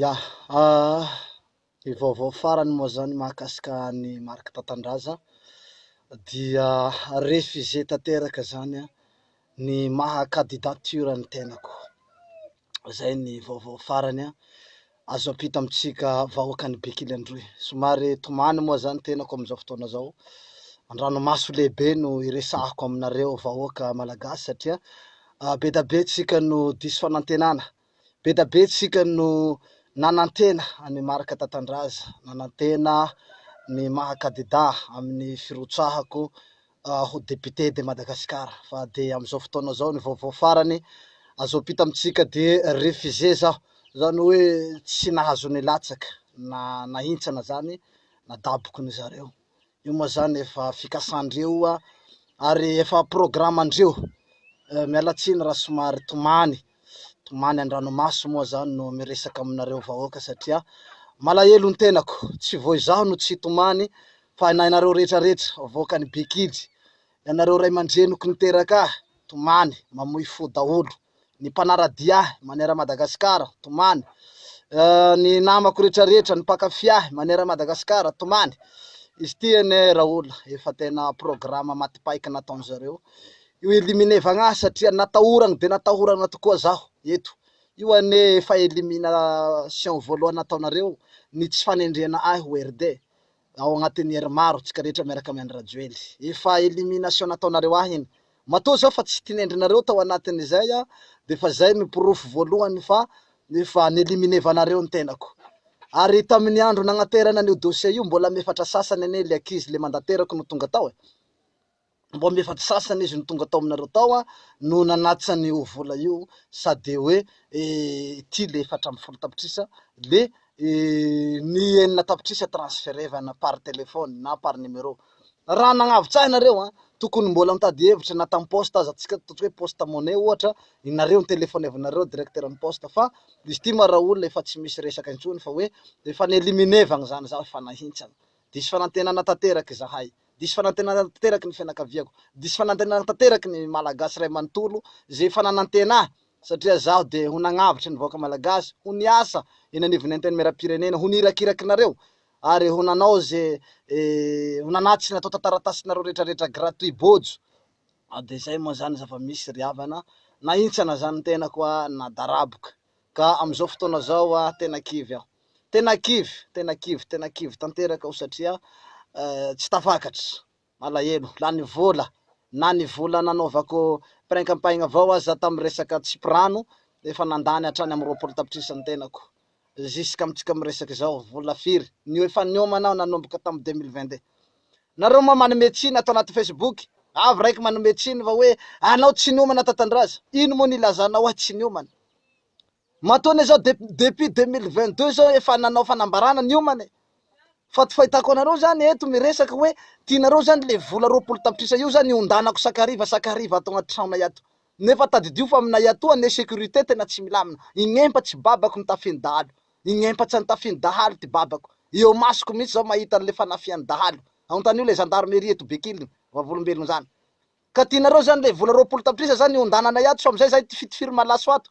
Ya! Aah! Ny vaovao farany moa zany mahakasika an'i Marc Tatandraza dia refusé tanteraka zany ny maha cadidature ny tenako. Zay ny vaovao farany azo ampita amintsika vahoakan'i Bekily Androy. Somary tomany moa zany tenako amin'izao fotoana izao, an-dranomaso lehibe no iresahako aminareo vahoaka malagasy satria be dia be tsika no diso fanantenana Be da be tsika no nanantena an'i Marc Tatandraza, nanantena ny maha kadidà amin'ny firotsahako ho député de Madagascar fa de amzao fotoana zao ny vaovao farany azo ampita amintsika de refusé zaho, zany hoe tsy nahazo nilatsaka na nahintsana zany na dabokony zareo io moa zany efa fikasandreo oa ary efa programandreo, miala tsiny raha somary tomany, tomany andranomaso moa zany no miresaka aminareo vahoaka satria malahelo ny tenako, tsy vao izaho no tsy tomany fa na ianareo rehetra rehetra vahoakan'i Bekidy, ianareo ray aman-dreniko niteraka ahy, tomany, mamoy fo daholo. ny mpanara-dia ahy maneran' Madagasikara, tomany, ny namako retraretra, ny mpankafy ahy maneran' Madagasikara, tomany. Izy ity anie Raoul efa tena programa matipaika nataon-dry zareo io elimine vagna satria natahorany dia natahorana tokoa zaho eto. Io anie efa elimination voalohany nataonareo ny tsy fanendrena ahy ho RD. Ao agnatin'ny heure maro tsika rehetra miaraka amy Andry Rajoely. Efa elimination nataonareo ahy iny. Matoa zao fa tsy tinendrinareo tao anatin'izay aho de fa zay no porofo voalohany fa efa neliminevanareo ny tenako. Ary tamin'ny andro nagnaterana an'io dossier io mbola amy efatra sasany anie le ankizy le mandaterako no tonga tao e. mbo am efatry sasany izy no tonga tao aminareo tao an, no nanatsa an io vola io sa de hoe ity le efatra amby folo tapitrisa le ny enina tapitrisa transferevana par telephone na par numero. Raha nagnavotsahy nareo an, tokony mbola mitady hevitra na tam poste aza atsika ataontsika hoe poste money ohatra nareo no telefonevinareo directeur ny poste fa izy ity ma ra olona efa tsy misy resaka intsony fa hoe efa ni eliminevagna zany za efa nahintsana Diso fanantenana tanteraka izahay. Diso fanantenana tanteraka ny fianakaviako. Diso fanantenana tanteraka ny Malagasy iray manontolo izay efa nanantena ahy satria izaho dia ho nagnavotra ny vahoaka Malagasy, ho niasa eny anivon'ny Antenimierampirenena, ho nirakirakinareo ary ho nanao izay ho nanattsy ny natao tan-taratasinareo rehetrarehetra gratuit bojo. Dia izay moa izany zava-misy ry havana, nahintsana izany ny tenako na daraboka. Ka amin'izao fotoana izao aho tena kivy aho. Tena kivy, tena kivy, tena kivy tanteraka aho satria tsy tafakatra, malahelo, lany vola, na ny vola nanaovako prank am-paigna avao aza tamin'ny resaka tsipy rano efa nandany hatrany amin'ny roapolo tapitrisa ny tenako. Jusqu'amintsika miresaka izao, vola firy no efa niomana aho nanomboka tamin'ny deux mille vingt deux. Nareo moa manome tsiny ato anaty facebook avy raiky manome tsiny fa hoe anao tsy niomana tatandraza ino moa ny ilazanao hoe tsy niomana matoa anie zao depuis deux mille vingt deux zao efa nanao fanambarana niomana e fa ty fahitako anareo zany eto miresaka hoe tianareo zany le vola roapolo tapitrisa io zany hondanako sakariva sakariva ato anaty tranonay ato Nefa tadidio fa aminay atoa anie sécurité tena tsy milamina, ign'empa tsy babako ny tafian'ny dahalo, ign'empa tsy antafian'ny dahalo ty babako, eo masoko mihitsy zao mahita an'le fanafian'ny dahalo, aontanio le gendarmerie eto Bekily, vavolombelogno zany ka tinareo zany le vola roapolo tapitrisa zany hiondananay ato sao amizay zahay tifitifiry malaso ato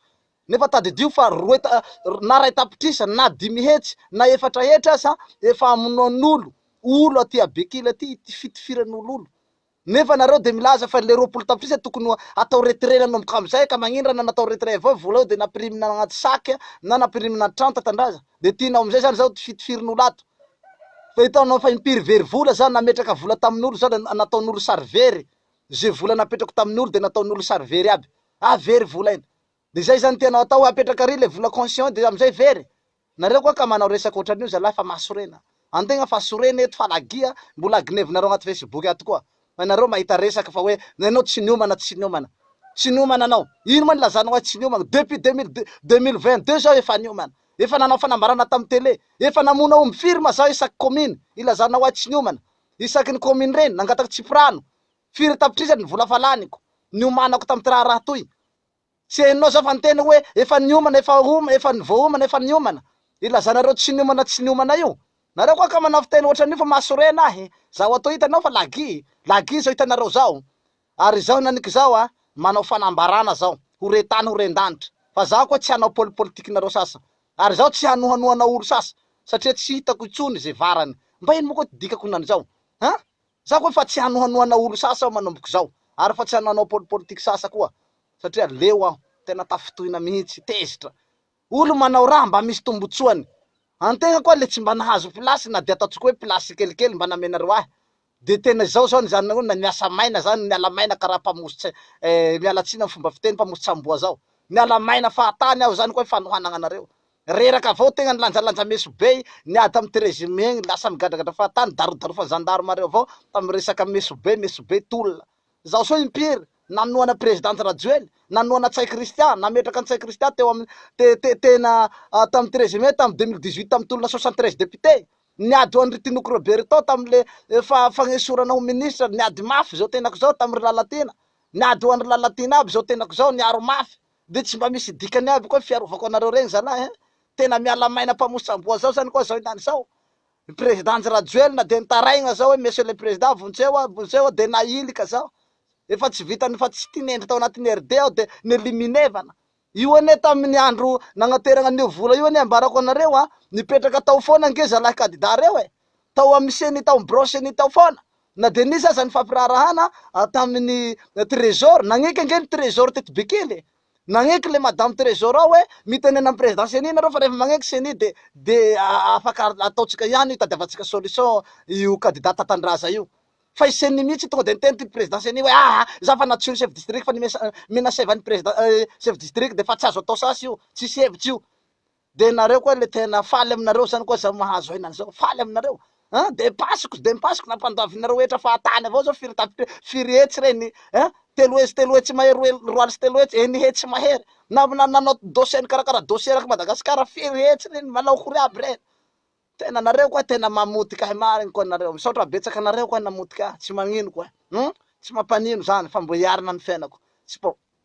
nefa tadidio fa roe ta na ray tapitrisa na dimy hetsy na efatra hetra aza efa amonoan'olo olo aty a Bekily aty itifitifiran'olo olo Nefa nareo de milaza fa le roapolo tapitrisa tokony ho atao retrait nanomboka amzay ka magnino ra na natao retrait avao vola io de nampirimina agnaty sac na nampirimina an-trano tantandraza de tianao amzay zany zao tifitifirin'olo ato fa hitanao fa impiry very vola za nametraka vola tamin'olo za de nataon'olo sary very ze vola napetrako tamin'olo de nataon'olo sary very aby ah very vola iny De zay zany tianao atao apetraka ary le vola conscient de amzay very? Nareo koa ka manao resaka otran'io zalahy fa mahasorena antegna fa sorena eto fa lagia mbola agnevinareo agnaty facebook ato koa fa nareo mahita resaka fa hoe enao tsy niomana tsy niomana tsy niomana anao ino ma nilazanao ahy tsy niomagna depuis deux mille deux deux mille vingt deux zaho efa niomana efa nanao fanambarana tam tele efa namono aomby firy ma zaho isaky commune ilazanao ahy tsy niomana isaky ny commune regny nangatako tsipirano firy tapitrisany ny vola fa laniko niomanako tamty raharaha toy Tsy henonao zao fa ny teny hoe efa niomana, efa homa, efa voahomana, efa niomana. Ilazana ireo tsy niomana tsy niomana io. Nareo koa ka manao fiteny ohatran'io fa mahasorena ahy. Zaho atoa hitanao fa lagy, lagy zao hitanareo zao. Ary izao nanika izao a, manao fanambarana zao, ho re tany ho ren danitra. Fa zaho koa tsy hanao poli politikinareo sasa. Ary zaho tsy hanohanohana olo sasa satria tsy hitako intsony ze varany. Mba ino moa koa ty dikako nan'izao? An? Za koa efa tsy hanohanoana olo sasa aho manomboka izao, ary fa tsy hananao pol politique sasa koa satria leo aho, tena tafintohina mihitsy, tezitra. Olo manao raha mba misy tombotsoany, antegna koa le tsy mba nahazo place na dia ataontsika hoe place tsikelikely mba namenareo ahy, de tena izao zao ny zany hoe na miasa maina za no miala maina karaha mpamosotse eh, miala tsiny am fomba fiteny, mpamosotsamboa zao, miala maina fahatany aho, zany koa fanohanagna anareo. Reraka avao tegna nilanjalanja Mesobey, niady tamin'ity régime egny, lasa migadragadra fahatany, darodarofan'ny gendarme reo avao tamin'ny resaka Mesobey, Mesobey tolona. Zao sao impiry, nanohana President Rajoely, nanohana Ntsay Christian, nametraka Ntsay Christian teo amin'ny te te tena tamin'ity régime tamin'ny 2018 tamin'ny tolona 73 député. Niady ho an'ry Tinoco Roberto tamin'le fa fagnesorana ho ministre, niady mafy zao tenako zao tamin'ry Lalatiana, niady ho an'ry Lalatiana aby zao tenako zao, niaro mafy, De tsy mba misy dikany aby koa ny fiarovako anareo regny zalahy a! Tena miala maina mpamoson-tsamboa zao zany koa zao indany zao! Ny Président-njy Rajoelina de nitaraigna zao hoe Monsieur le Président vontseo aho, vontseo aho, de nahilika zaho! Efa tsy vitany efa tsy tinendry tao anatin'ny RD aho de neliminer-vana! Io anie tamin'ny andro nagnateragna an'io vola io anie ambarako anareo a! Nipetraka tao foana ange zalahy kandidà reo e! Tao amin'ny ceni, tao amin'ny birao ceni tao foana! Na dia nisy aza ny fampiraharahana tamin'ny Trésor, nagneky ange ny Trésor teto Bekily e! Nagneky le Madame Trésor ao hoe, mitenena amin'ny Président Ceni nareo fa rehefa magneky Ceni de de afaka ataontsika ihany io, itadiavantsika solution io Candidat Tatandraza io. Fa i Ceni mihitsy tonga de niteny ty Président Ceni hoe, aa, za fa natsoin'ny Chef District fa ny mesa- menaceva ny Président, eh, Chef District de fa tsy azo atao sasy io, tsisy hevitra io. De nareo koa le tena faly aminareo zany koa zah mahazo aina an'izao faly aminareo an de pasiko de pasiko nampandoavinareo hetra fahatany avao zao firy tapitre firy hetsy re ny an telo hetsy telo hetsy mahery roa hely roa aly sy telo hetsy eny hetsy mahery na na nanao dossier nikarakara dossier erak'i Madagasikara firy hetsy re ny manao akory aby re tena nareo koa tena mamotika ahy marigny koa nareo misaotra betsaka anareo koa namotika ahy tsy magnino koa an tsy mampanino zany fa mbo hiarina ny fiainako tsy po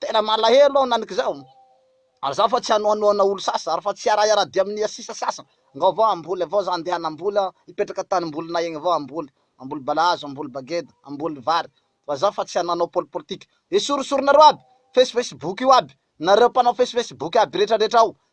Tena malahelo aho naniky zao. Ary za fa tsy anoanoana olo sasa ary fa tsy hiara hiara dia amnia sisa sasa. Ngao vao hamboly avao za ndeha hanamboly aho hipetraka tany mbolinay egny vao hamboly. Hamboly balahazo, hamboly bageda, hamboly vary. Fa za fa tsy hanoanao poli politika. Esorosoronareo aby. Face face boky io aby. Nareo mpanao face face boky aby retra retra ao.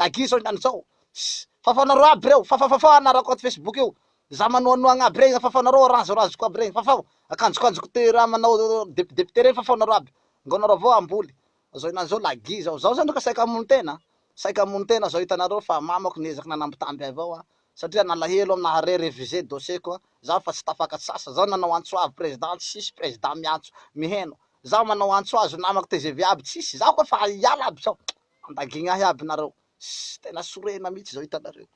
Lagier zao ihany zao. Fafanareo aby reo, fafafafa anarako ato Facebook io, za manohanohagna aby regny, fafanareo arazorazoko aby regny, fafao, akanjokanjoko te raha manao depidepite regny fafao nareo aby, ngo nareo avao hamboly, zao ihany zao lagier zao, zaho zany ka saika hamono tena, saika hamono tena zao hitanareo fa mamako niezaky nanambitamby ahy avao an, satria nalahelo am nahare reviser dossier ko zaho fa tsy tafakatry sasa, zaho nanao antso avy president tsy hisy president miantso, miheno, zaho manao antso azy ho namako tgv aby tsisy, zaho ka fa hiala aby zao, Mandagigna ahy aby nareo. Ssy tena sorena mihitsy izao hitanareo.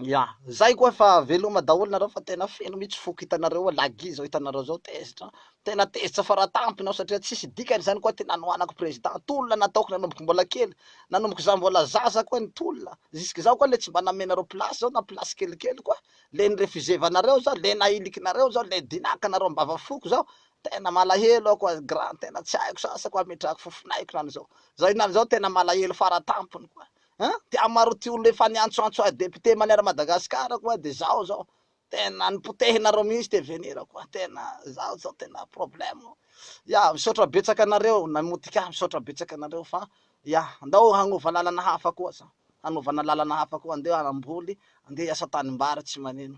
Ya, zay koa fa veloma daholo nareo fa tena feno mihitsy foko hitanareo ao lagy izao hitanareo zao tezitra an. Tena tezitra faratampony aho satria tsisy dikany izany koa ty nanohanako président. Tolona nataoko nanomboky mbola kely, nanomboky za mbola zaza koa ny tolona. Zisk'izao koa le tsy mba namenareo place zao na place kelikely koa. Le ni-refuser-vanareo zao, le nahilikinareo zao, le dinakanareo am-bava foko zao. Tena malahelo aho quoi grand tena tsy haiko sasa quoi ametrahako fofon'aiko na an'izao zao inona an'izao tena malahelo fara tampony quoi hein ty amaro ty olona efa niantsoantso ahy député manière Madagascar quoi de zao zao tena nipotehinareo mihintsy te venir quoi tena zao zao tena problème ya misaotra betsaka anareo namotika ahy misaotra betsaka anareo fa ya ndao hagnova lalana hafa koa zao hanovana lalana hafa koa andeha hamboly andeha hiasa tanimbary tsy manino